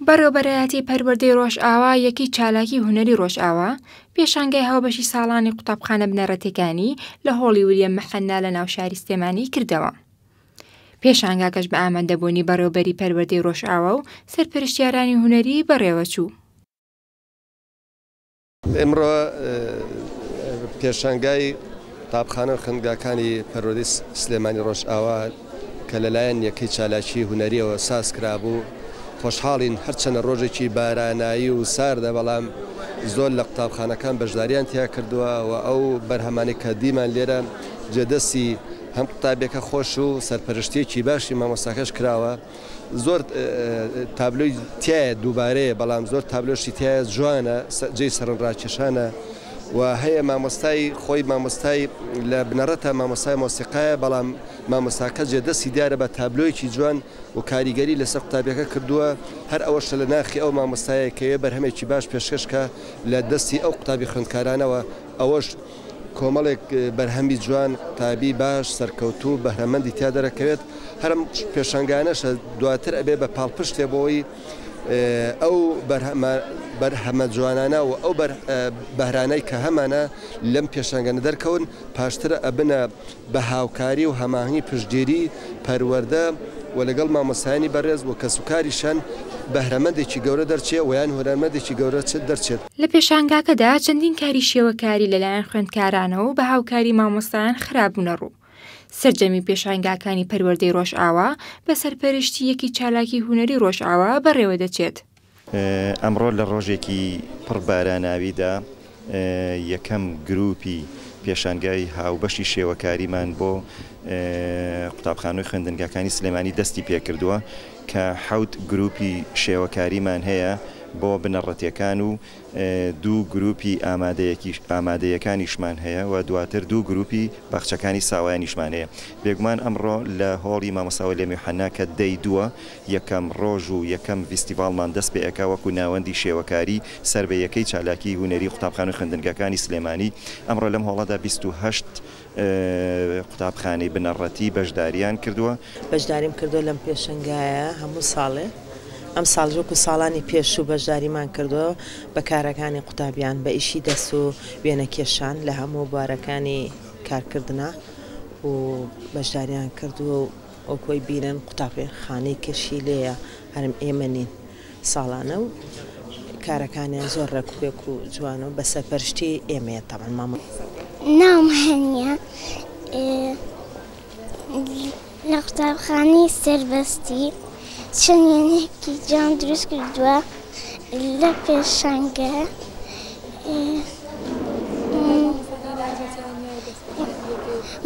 بەڕێوەبەرایەتی پەروەردەی ڕۆژئاوا یەکەی چالاکی هونەری ڕۆژئاوا پێشانگای هاوبەشی ساڵانی قوتابخانە بنەڕەتیەکانی لە هۆڵی وریەم محەننا لە ناوشاری سلێمانی کردەوە. پێشانگاکەش بە ئامادەبوونی بەڕێوبەری پەروەردەی ڕۆژئاوا و سەرپەرشتیارانی هونەری بەڕێوەچوو. ئمڕۆ پێشانگای قوتابخانەو خوێندگاکانی پەروەردەی سلێمانی ڕۆژئاوا کە لەلایەن یەکەی چالاکی هونەریەوە سازکرابوو خۆشحاڵین هەرچەنە ڕۆژێکی بارانایی و ساردە بەڵام زۆر لە قوتابخانەکان بەشداریان تیا کردووە و ئەو بەرهەمانی کە دیمان لێرە جێدەستی هەم قوتابیەکە خۆش و سەرپەرشتیەکی باشی مامۆستاکەش کراوە. زۆر تابلۆی تیایە دووبارەیە بەڵام زۆر تابلۆشی تایە جوانە جێی سەرن ڕاکێشانە و هەیە مامۆستای خۆی مامۆستای لە بنەڕەتە مامۆستای مۆسیقایە بەڵام مامۆستاکە جێ دەستی دیارە بە تابلۆیەکی جوان و کاریگەری لەسەر قوتابیەکە کردووە هەر ئەوەشە لە ناخی ئەو مامۆستایەکەوێ بەرهەمێکی باش پێشکەشکە لە دەستی ئەو قوتابی خوێندکارانەوە ئەوەش کۆمەڵێک بەرهەمی جوان، قوتابی باش، سەرکەوتوو و بەهرەمەندی تیا دەرەکەوێت، هەر ئەم پێشەنگانەشە دواتر ئەبێت بە پاڵپشتێ بۆی ئەو بەرهەمە جوانانە و ئەو بەهرانەی کە هەمانە لەم پێشەنگانە دەرکەون پاشتر ئەبنە بە هاوکاری و هەماهەنگی پشتگیری پەروەردە و لەگەڵ مامۆستایانی بەڕێز و کەسوکاری شەن بەهرەمەندێکی گەورە دەرچێ و یان هونەرمەندێکی گەورە دەرچێت. لە پێشانگاکەدا چەندین کاری شێوەکاری لەلایەن خوێندکارانەوە و بە هاوکاری مامۆستایان خرابوونەڕوو. سەرجەمی پێشانگاکانی پەروەردەی ڕۆژئاوا بە سەرپەرشتی یەکی چالاکی هونەری ڕۆژئاوا بەڕێوەدەچێت. ئەمڕۆ لە ڕۆژێکی پڕ باراناویدا یەکەم گرووپی پێشانگای هاوبەشی شێوەکاریمان بۆ قوتابخانەو خوێندنگاکانی سلێمانی دەستی پێکردووە کە حەوت گرووپی شێوەکاریمان هەیە بۆ بنەڕەتیەکان و دوو گرووپی ئامادەیەکیش ئامادەیەکانیشمان هەیە و دواتر دوو گرووپی باخچەکانی ساوایانیشمان هەیە بێگومان ئەمڕۆ لە هۆڵی مامۆستا وەلی میوحەنا کە دەی دووە یەکەم ڕۆژ و یەکەم ڤیستیڤاڵمان دەست پێ ئەکا وەکوو ناوەندی شێوەکاری سەر بە یەکەی چالاکیی هونەریی قوتابخانە و خوێندنگاکانی سلێمانی. ئەمڕۆ لەم هۆڵەدا بیست و هەشت قوتابخانەی بنەڕەتی بەشدارییان کردووە. بەشداریم کردووە لەم پێشەنگایە هەموو ساڵێ. ئەم ساڵیش وەکوو ساڵانی پێشوو بەشداریمان کردووە بە کارەکانی قوتابیان، بە ئیشی دەست و وێنە کێشان لە هەموو بوارەکانی کارکردنا و بەشداریان کردووە و، ئەو کۆی بیرەن قوتابخانەی کەشی لێیە هەرم ئێمە نین ساڵانە و کارەکانیان زۆر ڕێکوپێک و جوانە و بە سەرپەرشتی ئێمەیە تاوان مامە ناوم هەنیە لە قوتابخانەی سەربەستی چەندێنێکی جان دروست کردووە لە پێشەنگە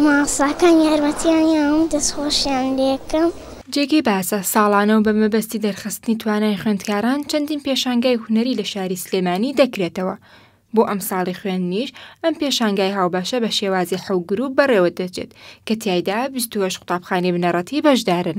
مامۆستاکان یارمەتیانیان دەست خۆشیان لێکەم. جێگەی باسە، ساڵانە و بە مەبەستی دەرخستنی توانای خوێندکاران چەندین پێشانگای هونەری لە شاری سلێمانی دەکرێتەوە، بۆ ئەمساڵی خوێندنیش ئەم پێشانگای هاوبەشە بە شێوازی حەو گرووپ بەڕێوەدەچێت کە تیایدا بیست و هەشت قوتابخانەی بنەڕەتی بەشدارن.